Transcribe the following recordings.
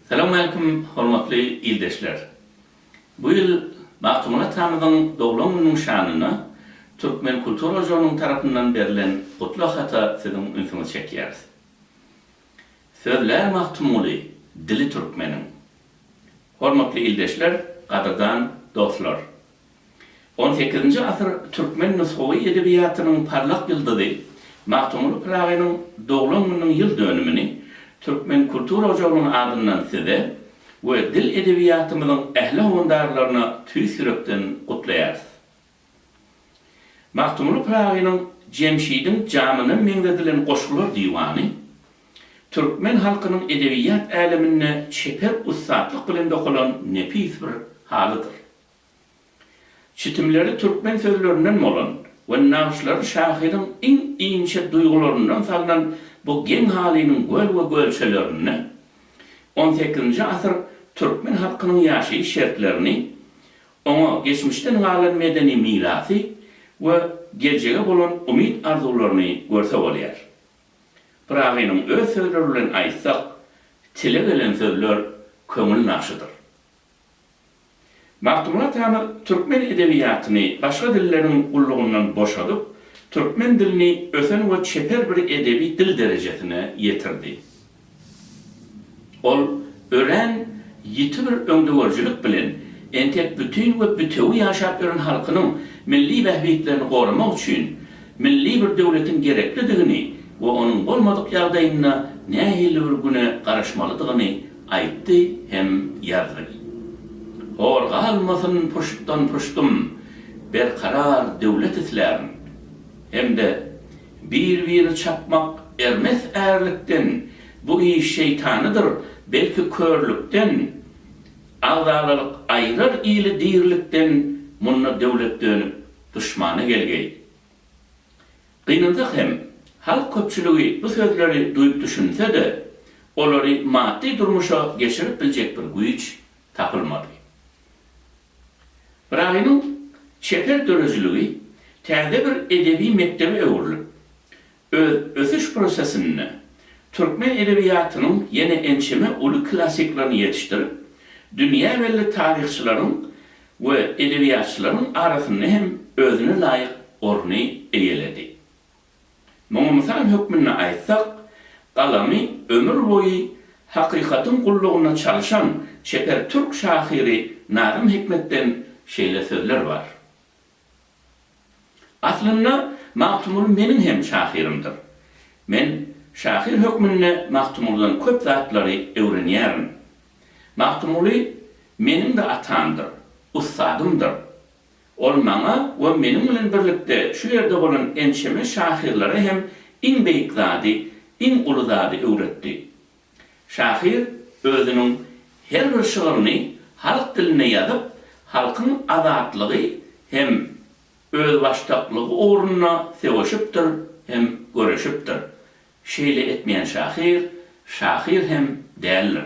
Salowmaleýkim hormatly ildeşler! Bu ýyl Magtymguly atamyzyň doglan gününiň şanyna Türkmen kultura ojagynyň tarapyndan berlen gutlag hata siziň ünsüňizi çekýäris. Sözlär Magtymguly, dili türkmeniň. Hormatly ildeşler, gadyrdan dostlar! On sekizinji asyr türkmen nusgawy edebiýatynyň parlak ýyldyzy Magtymguly Pyragynyň doglan gününiň ýyl dönümini Türkmen kultura ojagynyň adyndan Size we dil edebiýatymyzyň ähli howandarlaryna tüýs ýürekden gutlaýarys. Magtymguly Pyragynyň Jemşidiň jamyna meňzedilen goşgular diwany türkmen halkynyň edebiýat äleminde çeper ussatlyk bilen dokalan nepis bir halydyr. Çitimleri türkmen sözlerinden bolan we nagyşlary şahyryň iň inçe duýgularyndan salnan bu geň halynyň göl we gölçelerinde on sekizinji asyr türkmen halkynyň ýaşaýyş şertlerini, oňa geçmişden galan medeni mirasy we geljege bolan umyt-arzuwlaryny görse bolýar. Pyragynyň öz sözleri bilen aýtsak, Tile gelen sözler köňül nagşydyr. Magtymguly Tamyr türkmen edebiýatyny başga dilleriň gullugyndan boşadyp, türkmen dilini ösen we çeper bir edebi dil derejesine ýetirdi. Ol örän ýiti bir öňdegörüjilik bilen entek bütin we bütewi ýaşap ýören halkynyň milli bähbitlerini goramak üçin milli bir döwletiň gereklidigini we onuň bolmadyk ýagdaýynda nähili bir güne garaşmalydygyny Aýtdy hem ýazdy. Hor galmasyn puştdan-puştum, Berkarar döwlet islärin. Hem-de bir-biri çapmak ermes ärlikden, Bu iş şeýtanydyr, belki körlükden. Agzalalyk aýrar ili dirilikden, Munda döwlet dönüp duşmana gelgeý. Gynansak hem, halk köpçüligi bu sözleri duýup düşünse-de, olary maddy durmuşa geçirip biljek bir güýç tapylmady. Braýynyň çeper döredijiligi täze bir edebi mekdebe öwrülip, öz ösüş prosesinde türkmen edebiýatynyň ýene ençeme uly klassiklerini ýetişdirip, dünýä belli taryhçylaryň we edebiýatçylaryň arasynda hem özüne laýyk orny eýeledi. Muňa mysal hökmünde aýtsak, galamy ömür boýy hakykatyň gullugynda çalyşan çeper türk şahyry Nazym Hikmetden şeýle sözler bar, Aslynda, Magtymguly meniň hem şahyrymdyr. Men şahyr hökmünde Magtymgulydan köp zatlary öwrenýärin. Magtymguly meniň-de atamdyr, ussadymdyr. Ol maňa we meniň bilen birlikde şu ýerde bolan ençeme şahyrlara hem iň beýik zady, iň uly zady öwretdi. Şahyr özüniň her bir şygryny halk dilinde ýazyp, halkyň azatlygy hem özbaşdaklygy ugrunda söweşipdir hem göreşipdir. Şeýle etmeýän şahyr, şahyr hem däldir.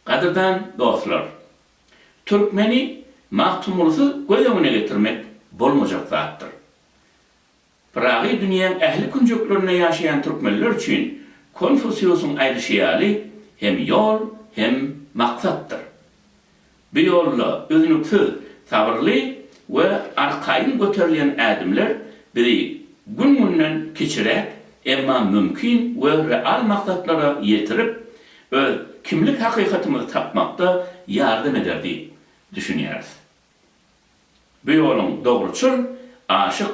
Gadyrdan dostlar! Türkmeni Magtymgulysyz göz öňüne getirmek bolmajak zatdyr. Pyragy dünýäň ähli künjeklerinde ýaşaýan türkmenler üçin Konfusiusyň aýdyşy ýaly hem ýol, hem maksatdyr. Bu ýolda üznüksiz sabyrly we arkaýyn göterilýän ädimler bizi gün-günden kiçiräk, emma mümkin we real maksatlara ýetirip, öz kimlik hakykatymyzy tapmakda ýardam eder diýip düşünýäris. Bu ýoluň dogruçyl, aşyk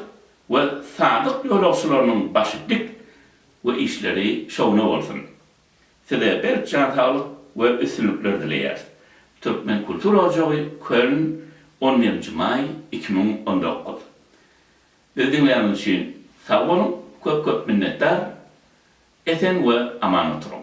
we sadyk ýolagçylarynyň başy dik we işleri şowuna bolsun! Size berk jan saglyk we üstünlikler dileýäris! Türkmen kultura ojagy Köln on birinji maý iki müň on dokuz Bizi diňläniňiz üçin sag boluň köp köp minnetdar Esen we aman oturyň.